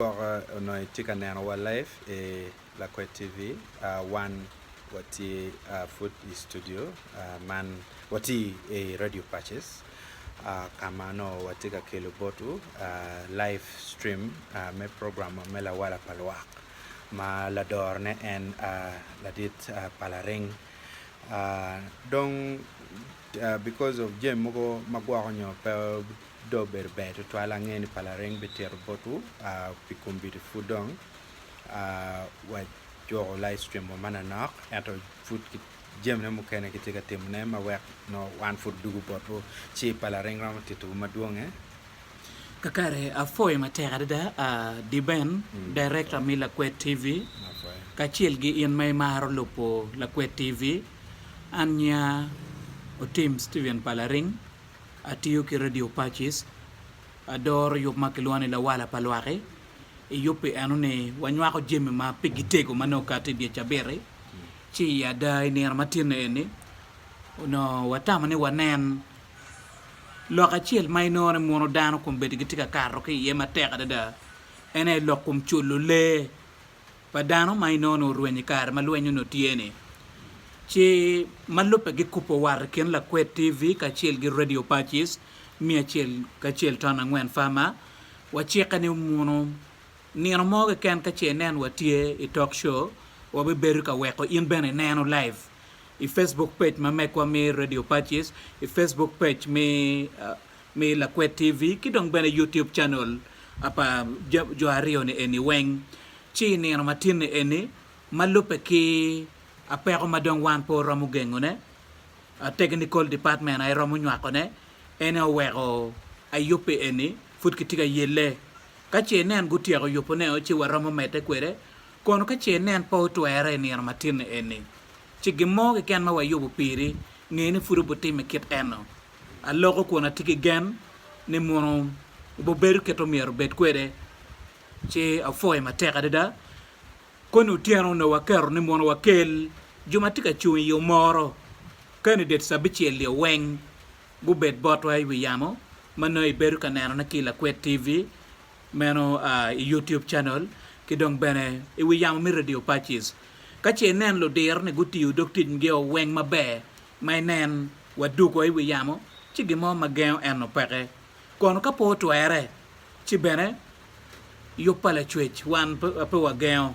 Gwoko onongo itye ka neno wa live i lakwed TV wan watye pud i studio man watye i radio pacis ka ma onongo watye ka kelo botwu live stream me program me lawala pa lwak ma ladorone en ladit pa laring dong because of jami mogo ma gwoko nyo pe Dong obedo ber tutwal ange ni pa lareng bitito botwu pi kombeddi pud dong wajuko live stream wa mananok ento pud jamine mukene kitye ka timone ma wek nongo wan pud odugo botwu ci pa lareng romo titowu madwonge. Kakare apwoyo matek adada Diben, Director me Lakwet TV kacel ki in ma imaro lubo Lakwet TV. An nyinga Otim Steven Palaring. Atiyo ki Radio Pacis, adoro yub ma kilwongo ni Lawala pa Lwak-ki. I yub pi eno-ni, wanywako jami ma pigi tego ma nongo okato i dye cabit-ti. Ci i ada i nino ma tinne eni, onongo watamo ni wanen lok acel ma inongo ni mono dano kombeddi gitye ka kato ki iye matek adada. En aye lok kom culo lee pa dano ma inono orweny i kare ma lweny onongo tye-ni, ci ma lubbe gikubo wat i kin lakwed TV kacel ki Radio Pacis miya acel ki acel ton angwen Farmer wacikke ni omunu nino mo keken ka ce inen watye i talk show wabibedo ka weko in bene ineno live i Facebook page ma megwa mi Radio Pacis i Facebook page mi me Lakwet TV ki dong bene YouTube channel pa jo aryo ni eni weng. Ci i nino matin ni eni, ma lubbe ki apeko ma dong wan pe waromo gengo ne, a technical department aye romo nywako ne, en aye oweko ayubbe eni pud kitye ka yelle. Ka ce nen gutyeko yubo ne o ci wa romo mede kwede, kono ka ce nen pe otwere i nino matin ni eni, ci gin mo keken ma wayubo piri, nge ni pud obitime kit eno. Aloko kun atye ki gen ni munu wubibedo kit omyero wubed kwede, ci apwoyo matek adada. Koni otyeno onongo waketo ni munu wakel jo ma tye ka cung i yo moro ka ni det cabicel-lio weng gubed botwa i wi yamo, ma nongo ibedo ka nenone ki i Lakwed TV, meno i Youtube Channel, ki dong bene i wi yamo me Radio Pacis. Ka ce inen ludir-ni gutiyo dog ticgio weng maber, ma inen wa dugo i wi yamo ci gin mo ma gengo eno peke. Kono ka pe otwere, ci bene yub pa Lacwec wan pe wagengo.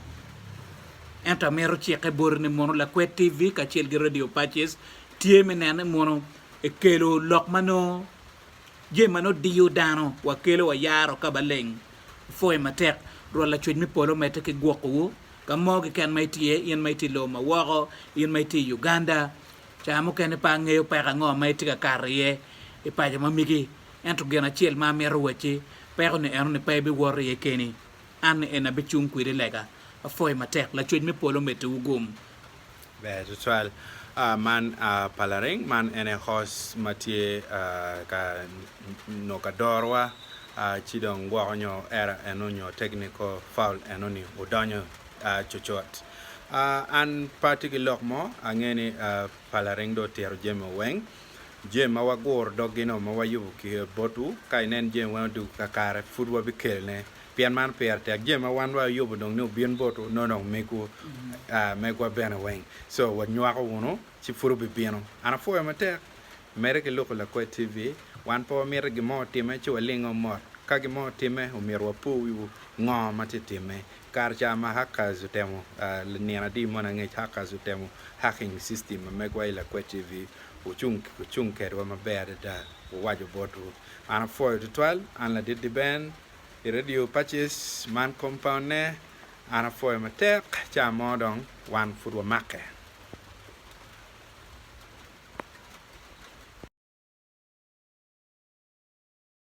Ento amito cikke boti ni mono lakwed TV kacel ki Radio Pacis tye me neno ni mono ekelo lok ma nongo jami ma nongo diyo dano wa kelo wa yaro ka baleng. Apwoyi matek. Rwot Lacwec me polo omedde ki gwokowu Ka mo keken ma itye, in ma itye i lobo ma woko, in ma itye i Uganda, caa mukene pe angeyo peko ango ma itye ka kato iye i paco ma migi, ento gin acel ma amito wacci, peko-ni eno ni pe ibiwor iye keni, an-ni en abicung kwidi lega. Apwoyo matek. Lacwec me polo omeddiwu gum. Ber tutwal. Man pa lareng man en aye kos ma tye ka nongo ka dorowa ci dong gwoko nyo era eno nyo technical foul eno ni odonyo cucut. An pe atye ki lok mo, angeyo ni pa lareng dong otito jami o weng. Jami ma waguro doggi-nu ma wayubo ki botwu, ka inen jami weng odwogo kakare pud wabikelone pien man pire tek jami ma wan wa yubo dong ni obin botwu nongo dong megwu aa megwa bene weng so wa nywako wunu ci pud obi bino an apwoyo matek mere ki luku lakwed TV wan pe wa mito gin mo otime ci wa lingo mot ka gin mo otime omyero wa pur wi wu ngo ma tye time kare ca ma hackers otemo aa nino adi moni angec hackers otemo hacking system ma megwa I lakwed TV wu cung wu cung kedwa maber adada wu waco botwu an apwoyo tutwal an ladit di Ben. i Radio Pacis man compound ne an apwoyo matek ca mo dong wan pud wamake.